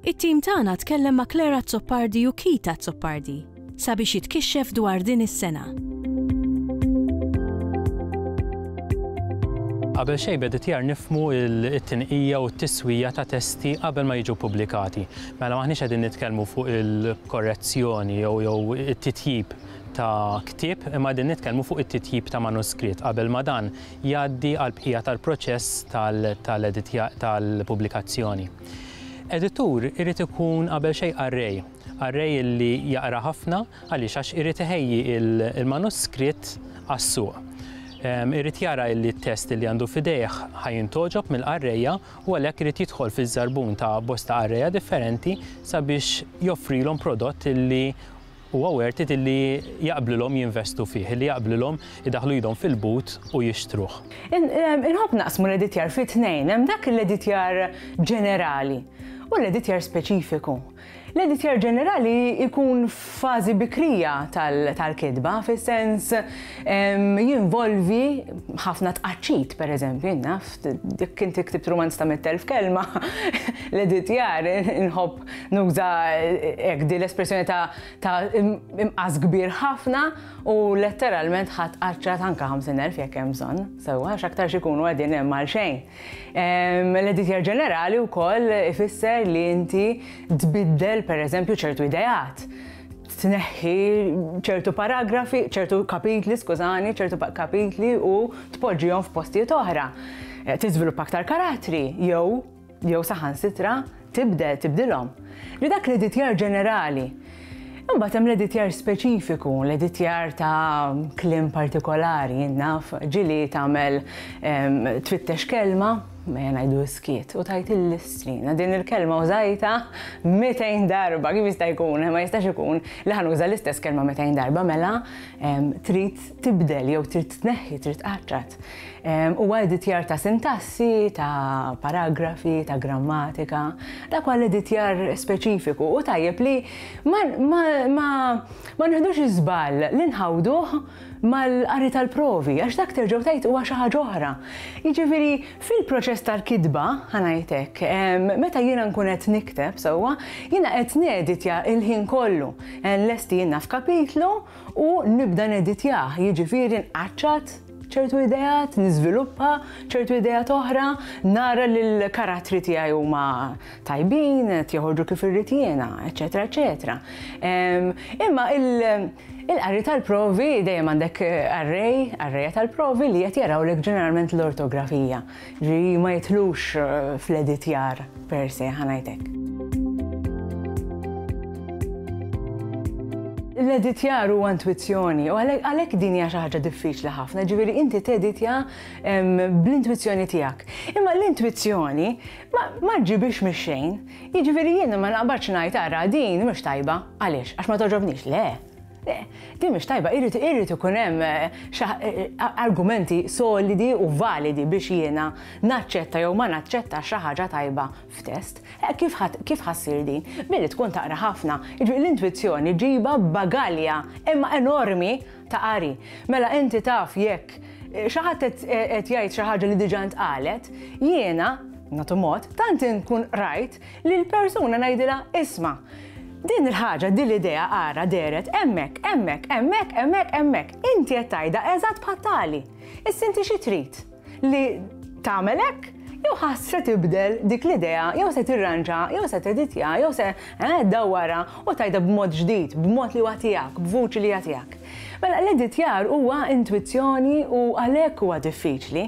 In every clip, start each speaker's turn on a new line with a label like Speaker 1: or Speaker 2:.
Speaker 1: It-tim tagħna tkellem ma' Claire Azzopardi u Keith Azzopardi sabiex jitkixxef dwar din is-sena. Qabel xejn b'editjar nifhmu t-tinqija u t-tiswija ta' testi qabel ma jiġu ppubblikati. Mela m'aħniex qegħdin nitkellmu fuq il-korrezzjoni jew it-titjib ta' ktieb imma qegħdin nitkellmu fuq it-titjib ta' manuskritt qabel ma dan jgħaddi għall-bqija tal-proċess tal-pubblikazzjoni. Editur irid ikun qabel xejn qarrej, qarrej li jaqra ħafna, għaliex għax irid iħejji l-manuskritt għas-suq. Irid jara li t-test li għandu f'idejh ħa jintgħoġob mill-qarrejja u għalhekk irid jidħol fiż-żarbun ta' bosta qarrejja differenti sabiex joffrilhom prodott li Huwa worth it li jaqblilhom jinvestu fih, li jaqblilhom idaħħlu idhom fil-but u jixtruh. Inħobb naqsmu l-editjar fi tnejn, hemm dak l-editjar ġenerali u l-editjar speċifiku. L-editjar ġenerali jkun f'fażi bikrija tal-kitba, fis-sens jinvolvi ħafna tqaċċit, pereżempju, jien naf, jekk inti ktibt rumanz ta' mitt elf kelma, l-editjar inħobb Nuża hekk din l-espressjoni ta' ta' im- imqas kbir ħafna u letteralment ħadd qaċċat anke 50,000 jekk hemm bżonn, sewwa għax aktarx ikunu qegħdin hemm għal xejn. Ehm, L-editjar ġenerali wkoll ifisser li inti tbiddel pereżempju ċertu ideat, tneħħi ċertu paragrafi, ċertu kapitli, skużani, ċertu pa- kapitli u tpoġġihom f'postijiet oħra. Eh, Tiżviluppa aktar karattri jew jew saħansitra tibdel, tibdilhom, li dak l-editjar ġenerali Imbagħad hemm l-editjar speċifiku, l-editjar ta' kliem partikolari, naf, ġili tagħmel twittex kelma, ma ngħidu skiet, u tajt il-listrina din il-kelma użajta 200 darba, kif jista' jkun, ma jistax ikun li ħanuża l-istess kelma 200 darba, mela trid tibdel jew trid tneħħi, trid tqaċċat. Ehm, huwa editjar ta' sintassi, ta' paragrafi, ta' grammatika, da' kwal editjar speċifiku u tajjeb li ma nħedux iżbal li nħawduh mal-qari tal-provi, għax dak terġgħu tajt huwa xi ħaġa oħra. Jiġifieri fil-proċess tal-kitba, ħanajtek, ehm, meta jiena nkun qed nikteb sewwa, jiena qed neditja il-ħin kollu. Ehm, lesti jiena f'kapitlu, u nibda neditjah, jiġifieri nqaċċat ċertu ideat, niżviluppa ċertu ideat oħra, nara li l-karattri tiegħi huma tajbin, qed joħorġu kif irrid jiena, eċetera, eċetera. Ehm, imma il-qari tal-provi dejjem għandek array, arrayja tal-provi li qed jarawlek ġeneralment l-ortografija. Ġi ma jitlux fl-editjar per se, ħanajtek. L-editjar huwa intwizzjoni, u għalhekk din hija xi ħaġa diffiċli ħafna, ġifieri inti teditja bl-intwizzjoni tiegħek. Imma l-intwizzjoni ma ġġibix mix-xejn, jiġifieri jien ma naqbadx ngħid ara din mhux tajba, għaliex? Għax ma toġobnix, le. Le, din mhix tajba, irid irid ikun hemm argumenti solidi u validi biex jiena naċċetta jew ma naċċettax xi ħaġa tajba f'test. Kif ħa kif ħa ssir din? Billi tkun taqra ħafna. Jiġifieri l-intwizzjoni ġibha b'bagalja imma enormi ta' qari. Mela inti taf jekk xi ħadd qed qed jgħid xi ħaġa li diġà ntqalet, jiena, nagħtu mod, tant inkun qrajt Lil persuna ngħidilha isma', din il-ħaġa, din l-idea ara dehret hemmhekk, hemmhekk, hemmhekk, hemmhekk, hemmhekk. Inti qed tgħidha eżatt bħal tali. Issa inti xi trid? Li tagħmel hekk? Jew ħa se tibdel dik l-idea, jew se tirranġa, jew se teditja, jew se eh, dawwara u tgħidha b'mod ġdid, b'mod li huwa tiegħek, b'vuċi li hija tiegħek. Mela l-editjar huwa intwizzjoni u għalhekk huwa diffiċli.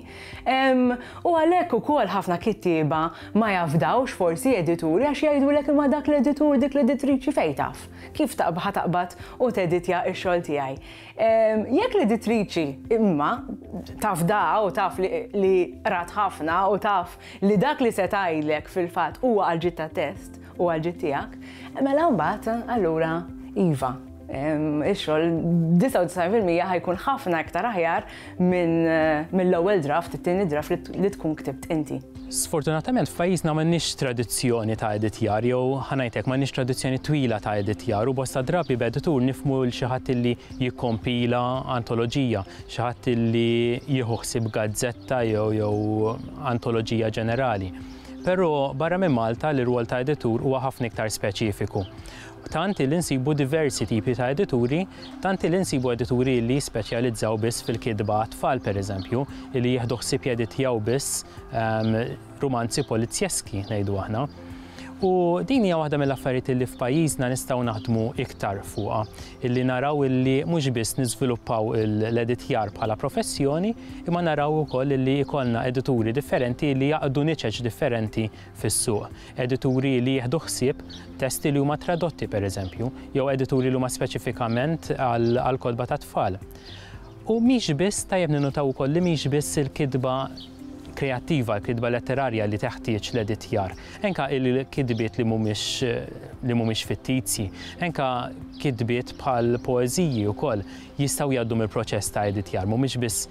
Speaker 1: U għalhekk ukoll ħafna kittieba ma jafdawx forsi edituri għax jgħidulek imma dak l-editur, dik l-editriċi fejn taf? Kif taqb ħa taqbad u teditja x-xogħol tiegħi? Jekk l-editriċi imma tafdaha u taf li qrat ħafna u taf li dak li se tgħidlek fil-fatt huwa għall-ġid tat-test u għall-ġid tiegħek, mela mbagħad allura iva. Ix-xogħol 99% ħajkun ħafna iktar aħjar minn eh, mill-ewwel draft, it-tieni draft li tkun ktibt inti. Sfortunatament f'pajjiżna m'għandniex tradizzjoni ta' editjar jew ħanajtek m'għandniex tradizzjoni twila ta' editjar u bosta drabi b'editur nifmu l xi ħadd illi jikkompila antoloġija, xi ħadd illi jieħu ħsieb gazzetta jew jew antoloġija ġenerali. Però barra minn Malta l-irwol ta' editur huwa ħafna iktar speċifiku. Tant hi li nsibu diversi tipi ta' edituri, tant hi li nsibu edituri li jispeċjalizzaw biss fil-kitba għat-tfal, pereżempju, li jieħdu ħsieb jeditjaw biss rumanzi polizzjeski, ngħidu aħna. U din hija waħda mill-affarijiet li f'pajjiżna nistgħu naħdmu iktar fuqha, li naraw li mhux biss niżviluppaw l-editjar bħala professjoni, imma naraw ukoll li jkollna edituri differenti li jaqdu niċeċ differenti fis-suq, edituri li jieħdu ħsieb testi li huma tradotti, pereżempju, jew edituri li huma speċifikament għall-kotba tat-tfal. U mhix biss, tajjeb ninnutaw ukoll li mhix biss il-kitba kreattiva, il-kitba letterarja li teħtieġ l-editjar. Enka il-kitbiet li mhumiex li mhumiex fittizji, enka kitbiet bħal poeżiji wkoll jistgħu jgħaddu mill-proċess ta' editjar, mhumiex biss